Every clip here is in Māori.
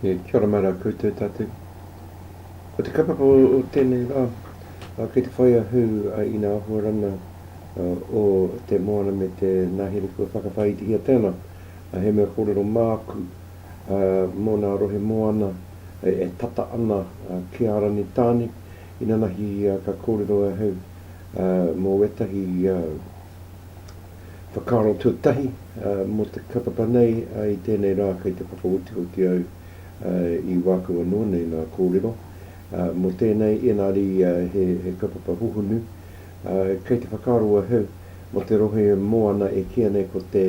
Kia ora mai rā koutou tātou. Ko te kaupapa o tēnei rā, kei te whai a Hū a Ina Ahoarana o Te Moana me te Ngahere kua whakawhāitihiatia te ana, he mea kōrero māku mō nā rohe moana e tata ana ki a Rangitāne, inanahi ka kōrero ahau mō wētahi whakaaro tuatahi mō te katapa nei i tēnei rā kei te whakaotioti au i wāku anō nei ngā kōrero mō tēnei ēnari he kaupapa hohonu kei te whakaaro ahau mō te rohe moana e kīa nei ko te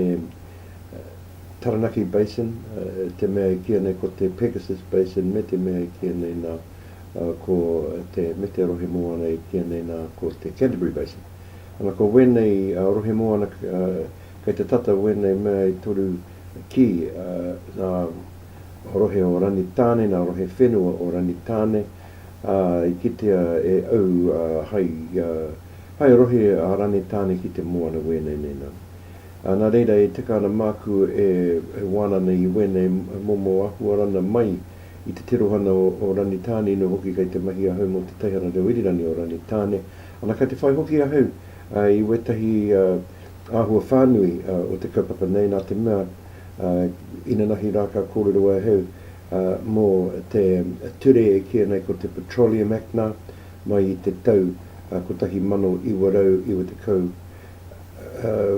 Taranaki Basin te mea e kīa nei ko te Pegasus Basin me te mea e kīa nei nā ko te, me te rohe moana i kīia nei nā, ko te Canterbury Basin. Ana, ko wēnei rohe moana kei te tata wēnei mea e toru ki ngā rohe o Rangitāne, ngā rohe whenua o Rangitāne, ā, i kitea e au hai, hai rohe a Rangitāne ki te moana wēnei nei nā. Nā reira e tika ana māku e wāna nei i wēnei momo āhuarana mai, i te tirohana o Rangitāne, ino hoki kei te mahi ahau mō te Taihara Reo Irirangi o Rangitāne, ana kei te whai hoki ahau i wētahi āhua whānui o te kaupapa nei, nā te mea, inanahi rā ka kōrero ahau mō te ture e kīia nei ko te Petroleum Act nā, mai i te tau 1990,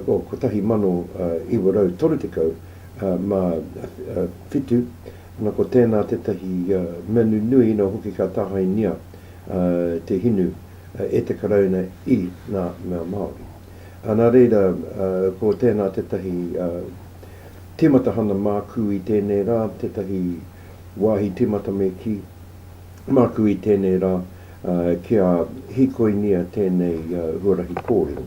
oh, 1937, Na ko tēnā tētahi mea nunui ina hoki ka tāhaingia te hinu e te Karauna i ngā mea Māori. Nā reira, ko tēnā tētahi tīmata hana māku i tēnei rā, tētahi wāhi tīmata me kī, māku i tēnei rā kia hīkoingia tēnei huarahi kōrero.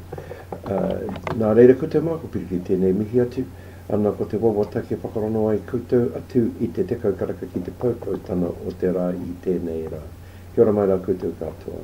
Nā reira, ko te mākupiriki tēnei mihi atu Ana ko te wawataki e whakarongo ai koutou atu i te tekau karaka ki te poupoutanga o te rā i tēnei rā. Kia ora mai rā koutou katoa.